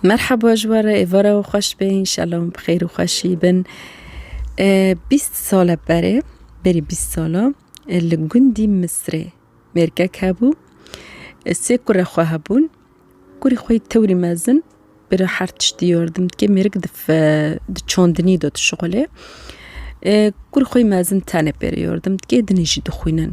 Merhaba ji we re êvara û xweş be înşallah hûn bi xêr û xweşî bin. Bîst sal e berê berî bîst sala li gundî Misrê mêrkek hebû sê kurê xwe hebûn kurî xwe yî tewrî mezin bi re her tiştî yardim dike mêrik di çandinî de dişixulê kurî xwe yî mezin tenê pê re yardim dike dinê jî dixwînin.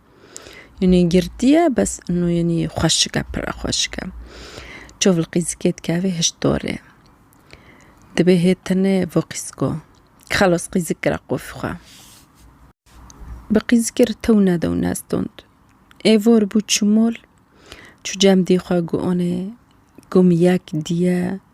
Yanî girtiye bes ino yanî xweşik e pire xweşik e. Çav li qîzikê dikeve hişt dorê. Dibê hê tenê vê qîziko. Xelas qîzik kira qofî xwe. Bi qîzikê re tew neda û nestond. Ê vor bû çimol, çû cem dî xwe got anê, got min yek dî ye.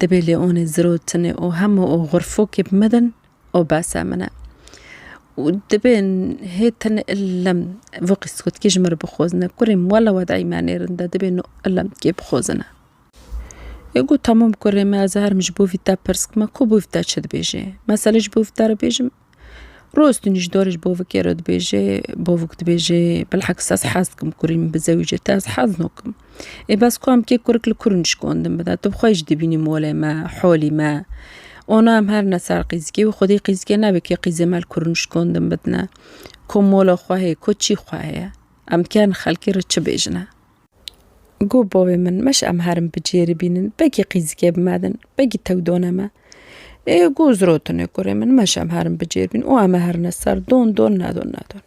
Dibê lê onê ziro tinê o hemo o xurfokê bi me din o bese min e. Û dibê hê tin illem vê qîskutkî ji min re bixwezine. Kurê min wela wedayî me nêrin de dibê no illem kê bixwezine. Ê got tamam kurê min ez herim ji bo vî te pirs bikima ku bo vî te çi dibêjê. Meselê ji bo vî te re bêjim. Rostin ji dorê ji bovik ê re dibêje, bovik dibêje bilheks ez hez dikim kurî min bi zewî cete ez hez nakim. Ê bes ku em kê kurik li kur nişkan din bide tu bi xwe jî dibînî molê me, holî me. Ona em herin e ser qîzikê wî xwedî qîzikê nebe kê qîzê me li kur nişkan din bidine. Ko mola xwe heye, ko çî xwe heye. Em dikarin xelkê re çi bêjine? Go bavê min, meş em herin bi cêrî bînin, begî qîzikê bi me din, begî tew done me. Ê go zirotine kurê min, meş em herin bi cêr bînin û em ê herine ser don don nedon nedon.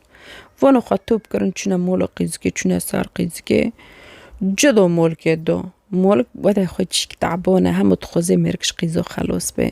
Vana xwe top kirin çûne mola qîzikê, çûne ser qîzikê, ci do molkê do. Molk wede xwe çîk tabone, hemû dixwazê mêrg ji qîzo xelos bê.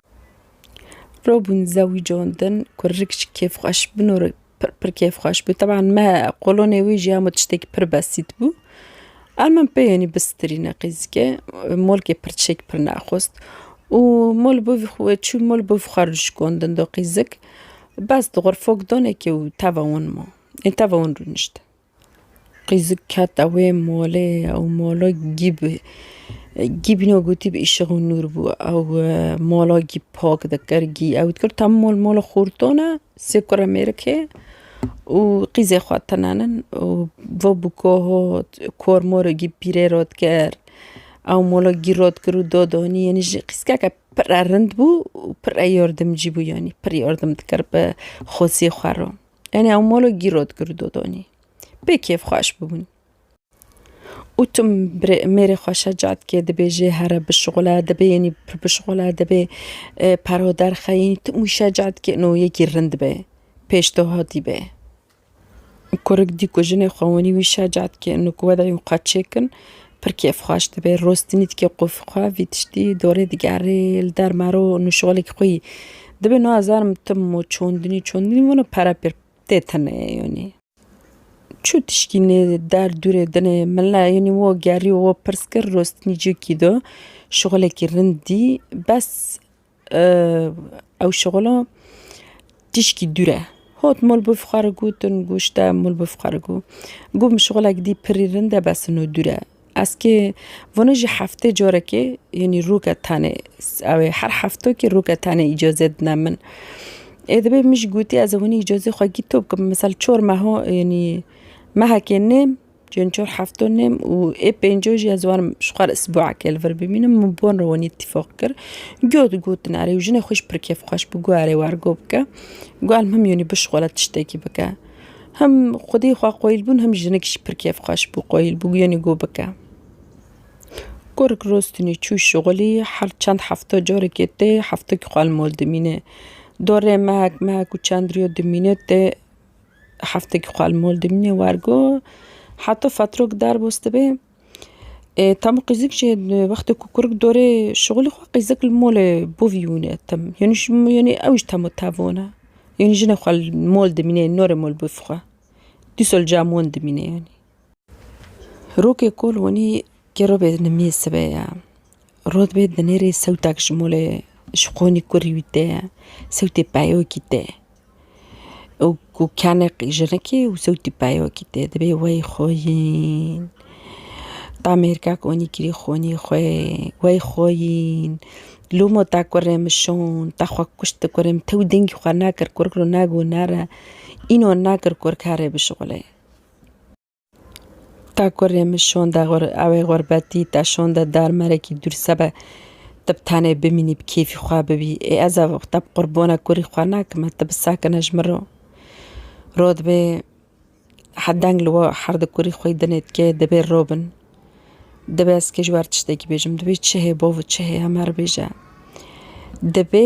Robûn zewîco din ku rik ji kêfxweş bin û rik pir pir kêfxweş bû teban me qolonê wî jî hemû tiştekî pir besît bû. Ev min peyênî bi strîne qîzike molkê pir çêk pir nexwest û mol bo vî xwe çû mol bo vî xwe re şikandin do qîzik bes dixwe fok danekê û teva wan ma ên teva wan rûnişt. Qîzik kete wê molê ew mola gî bi gî bîne gotî bi îşiq û nûr bû ew mola gî pak dikir gî ew dikir tam mol mola xorton e sê kure mêrikê û qîzê xwe tinenin û va bû ka hat kor mora gî pîrê re dikir ew mola gî re dikir û da danî yanî ji qîzkeke pire rind bû û pire yardimcî bû yanî pir yardim dikir bi xweziyê xwe re. Enê ew molo gîro digirdo donê. Pê kêfxweş bibûn. Û tu birê mêrê xwe şeca dikê dibê jê here bişixule, dibê yenî pir bişixule, dibê perho derxe yenî tu wî şeca dikê no yekî rind be, pêş te hatî be. Kurik dî ku jinê xwe wenî wî şeca dikê no ku wedayî xwe çêkin Pir kêfxweş dibe, rostinî dike qûf xwe, vî tiştî dorê digerê li derma ro û nûşolek xwî dibe. Nazanim tu mo çondinî çondinî wina pere pir tê tenê yanî. Çû tişkî nê der dûrê dinê min la yanî wo gerî û wo pirs kir rostinî cî kî do şixolekî rind dî bes Ew şixula tişkî dûr e. Hot mol bû fixar û got in got şite mol bû fixar û got. Got min şixulek dî pirrî rind e bes no dûr e. Ez kê vana jî heftê carekê yanî roke tenê ew ê her heftekê roke tenê îcazê dine min. Ê dibê min jî gotî ez ê winî îcazê xwe gîto bikim misal çar meha yanî mehekê nêm. Cihên çar hefto ne û ê pêncû jî ez warim ji xwe re sibûekê li vir bimînim min bi wan re wanî îtîfaq kir. Giyo digotin erê û jinê xwe jî pir kêfxweş bû got erê wergo bike. Got him yanî bi ji xwe re tiştekî bike. Him xwedî xwe qoyil bûn him jinik jî pir kêfxweş bû qoyil bû yanî got bike. Gurik rostinê çû şixulî her çend hefto carekê tê heftekî xwe li mal dimîne. Dorê mehek mehek û çend riyo dimîne tê. Heftekî xwe li mol dimîne wergo heta fatirok derbas dibe. Tam û qîzik jî wextê ku kurik dorê şixulê xwe qîzik li molê bo vî wîne tim yanî ji yanî ew jî tam û tev wana. Yanî jinê xwe li mol dimîne norê mol bivixwe. Dîsal cem wan dimîne yanî. Rokê kol wanî kero bê nimiyê sibê ye. Rod bê dinêrê sewtek ji molê ji qonî kurî wî tê ye. Sewtê peyokî tê. Ew ku kenê qîjinikê û sewtî peyokî tê. Divê wey xweyîn. Damêrkek wanî kirî xonî xwe wey xweyîn. Loma te kurê min şand, te xwe kuşt di kurê min. Te wî dengî xwe nekir kurikiro negot nere. Înan nekir kurkerê bişuxulê. Ta ku rê min şonde ewê xurbetî te şonde dar merekî dûr sebe tu bi tenê bimînî bi kêfî xwe bibî ê ez ev te bi qurbona kurî xwe nakim e tu bi sakine ji min re rot bê heh deng li we her di kurî xwe dinê dikê dibê robin dibê ez kê ji wer tiştekî bêjim dibê çi hê bo çi hê hemer bêje dibê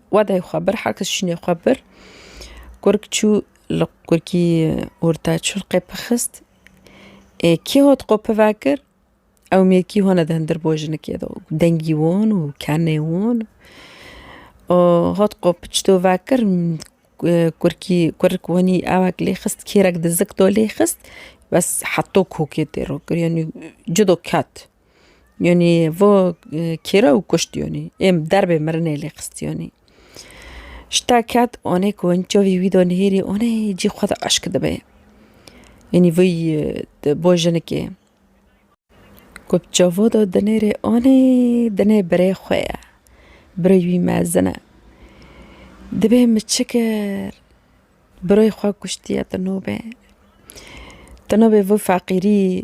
Wedayê xwe bir heke şînê xwe bir kurk çû li kurkî orta çurqê pixist ê kî hot xwe pive kir ew mêrkî hone di hindir bo jinikê de dengî won û kenê won û hot xwe piçto vekir kurkî kurik wenî ewek lê xist kêrek di zik de lê xist bes heto kokê tê rokir yanî cudo ket. Yonî vo kêra û kuşt yonî êm derbê mirinê lê xist yonî. Şita ket onê ku in çavî wî da nihêrî onê cî xwe de eşk dibe. Yonî vî di bo jinikê. Ku bi çavo da dinêrê onê dinê birê xwe ye. Birê wî mezin e. Dibê min çi kir? Birê xwe kuştiye tu nobe. Tu nobe vî feqîrî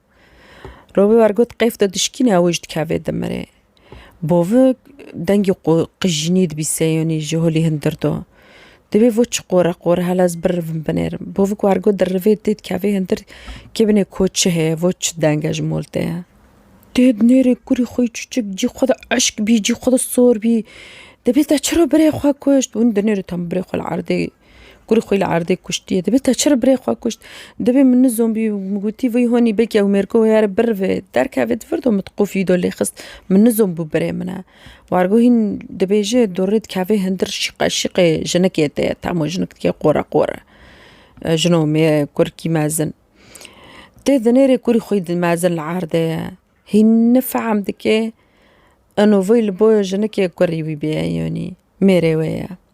Robi wer got qeyf de dişkîne ew ji dikevê dimirê. Bovi dengê qu qijînî dibî seyonî ji holî hin dirdo. Divê vo çi qore qore hela ez birivim binêrim. Bovi ku wer got di rivê tê dikevê hin dir kê binê ko çi heye vo çi deng e ji mol te ye. Tê di nêrê kurî xwe yî çûçik cî xwe de eşk bî cî xwe de sor bî. Dibê te çi ro birê xwe kuşt. Hûn di nêrê tam birê xwe li erdê Kurê xwe li erdê kuştiye. Dibê te çi li birê xwe kuşt? Dibê min nizom bî min gotî vî honî bê ke ew mêrgo heya re birivê derkevê di vir de min di qufî de lê xist min nizom bû birê min e. Wargo hîn dibêje dorê dikeve hindir şîqe şîqe jinikê te ye tamo jinik dike qore qore. Jino mêr kurkî mezin. Tê di nêrê kurî xwe di mezin li erdê ye. Hîn nifehm dike eno vê li bo jinikê kurî wî bêyayî honî mêrê wê ye.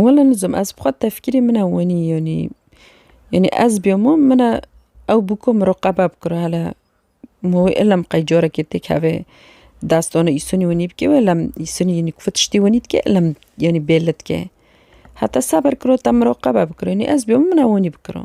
Wela nizim ez bi xwe tefkîrî min e wenî yanî yanî ez bîya min min e ew bûko min roqebe bikiro hele ma wê elem qey carekê têk hevê destana îsonî wenî bikê wê elem îsonî yanî kuve tiştî wenî dikê elem yanî bêle dikê heta se ber kiro te min roqebe bikiro yanî ez bîya min e wenî bikiro.